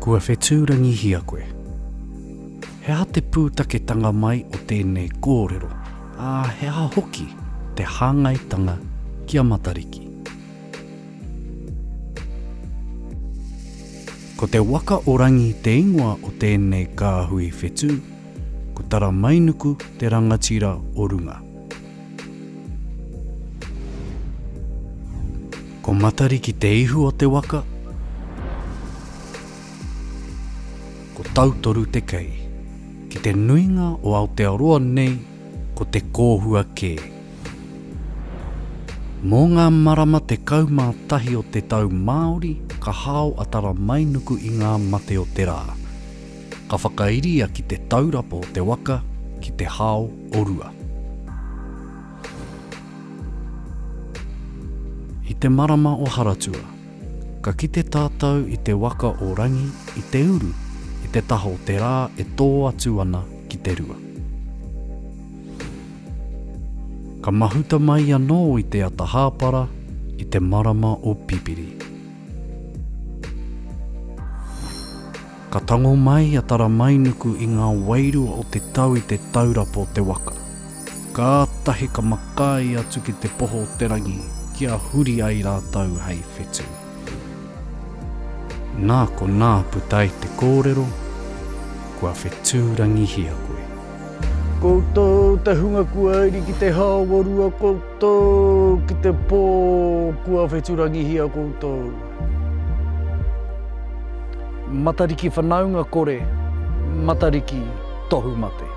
Kua whetūrangihia koe. He aha te pūtaketanga mai o tēnei kōrero, ā, he aha hoki te hāngaitanga ki a Matariki? Ko te waka o Rangi te ingoa o tēnei kāhui whetū, ko Taramainuku te rangatira o runga. Ko Matariki te ihu o te waka, ko Tautoru te kei. Ki te nuinga o Aotearoa nei ko te kōhua kē. Mō ngā marama 11 o te tau Māori ka hao a Taramainuku i ngā mate o te rā. Ka whakairia ki te taurapa o te waka ki te hao o Rua. I te marama o Haratua, ka kite tātou i te waka o Rangi i te uru i te taha o te rā e tō atu ana ki te rua. Ka mahuta mai anō i te ata hāpara i te marama o Pipiri. Ka tango mai a Taramainuku i ngā wairua o te tau i te taurapa o te waka. Kātahi ka makaī atu ki te poho o te rangi kia huri ai rātou hei whetū. Nā konā puta ai te kōrero, Kua whetūrangihia koe. Koutou te hunga kua iri ki te haoorua koutou ki te po kua wheturangihia koutou. Matariki whanaunga kore, Matariki tohu mate.